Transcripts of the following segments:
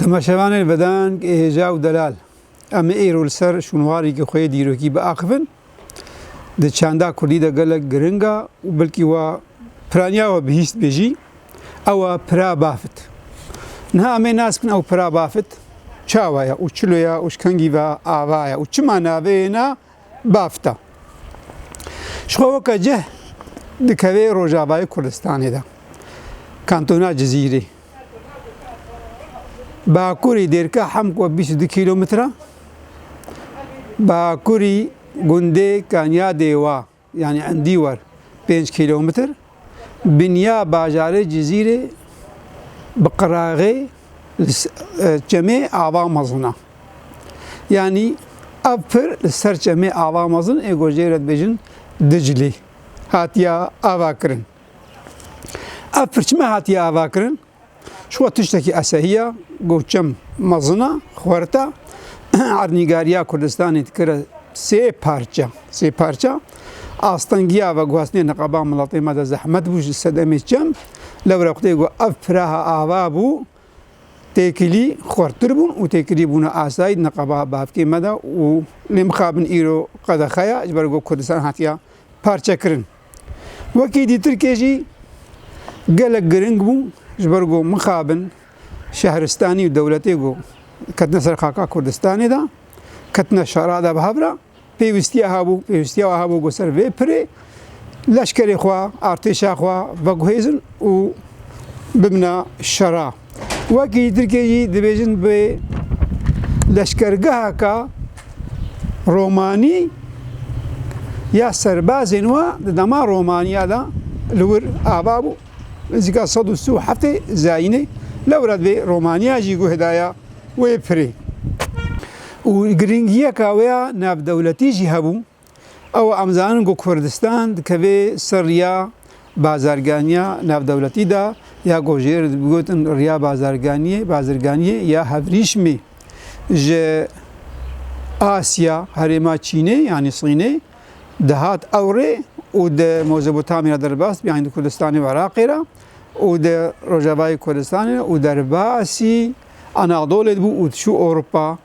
Temaşevanên vedeng ê hêja û delal, em ê îro li ser şûnwareke xwe yê dîrokî biaxivin. Di çanda kurdî de gelek giring a û belkî wa piraniya we bihîst bê jî, ew e pira bafit. Niha em ê nas bikin ew pira bafit çawa ye û çilo ye û ji kengî ve ava ye û çima navê ye na, bafta. Ji xwe weke cih dikeve Rojavayê Kurdistanê de, kantona Cizîrê. Bakurî dêrka Hemk we bîst û du kîlometre, bakurî gundê Kanyadê wa. Yanî endî wer pênc kîlometr binya bajarê Cizîrê bi qiraxê li çemê Ava mezin e. Yanî ev pir li ser çemê Ava mezin ê ku jê re dibêjin Diclî hatiye avakirin. Ev pirçime hatiye avakirin? Şiwa tiştekî esehiya got çem mezina xwerta ernîgariya Kurdistanê dikire sê parça. Sê parça astengiya ve guhastinê niqaba miletê me de zehmet bû ji sedemê çem. Lewre qutê got ev piraha ava bû têkilî xwertir bûn û têkilî bûna asayî niqaba bavkê me de û lê mixabin îro qedexeya ji ber got Kurdistan hatiya parçekirin. Wekî dî Tirkiyê jî gelek giring bû ji ber ku mixabin şehristanî û dewletê ku ketine ser xaka Kurdistanê de, ketine şera de bi hev re, pêwîstiya hebû, pêwîstiya wa hebû ku ser vê pirê leşkerê xwe, artêşa xwe veguhêzin û bibina şera. Wekî Tirkiyê jî dibêjin bi leşkergeheka Romanî ya serbazên we di dema Romaniya de li wir ava bû. Nizîka sed û sî û heftê zayînê lewre divê Romaniya jî guh daya wê pirê. Û giringiyeka wê ya navdewletî jî hebû. Ew em zanin ku Kurdistan dikeve ser riya bazarganiya navdewletî de ya ku ji êrê digotin riya bazarganiyê, bazirganiyê ya hevrîşmê ji Asya, herêma Çînê yanî Sînê dihat ewrê û di Mozopotamyê re derbas dibî yanî di Kurdistanê û Iraqê re û di Rojavayê Kurdistanê re û derbasî Anadolê dibû û diçû Ewropa.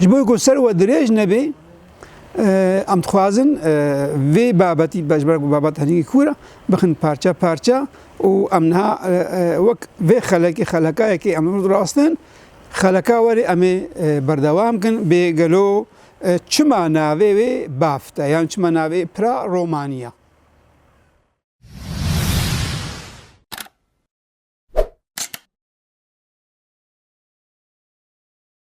Ji bo ku ser we dirêj nebê em dixwazin vê babetî ji ber ku babet herî kûr e bixin parça parça û em niha wek vê xelekê xelekayekê em rûd rastin xeleka werê em ê berdewam kin bê gelo çima navê wê bafte yan çima navê pira romaniya.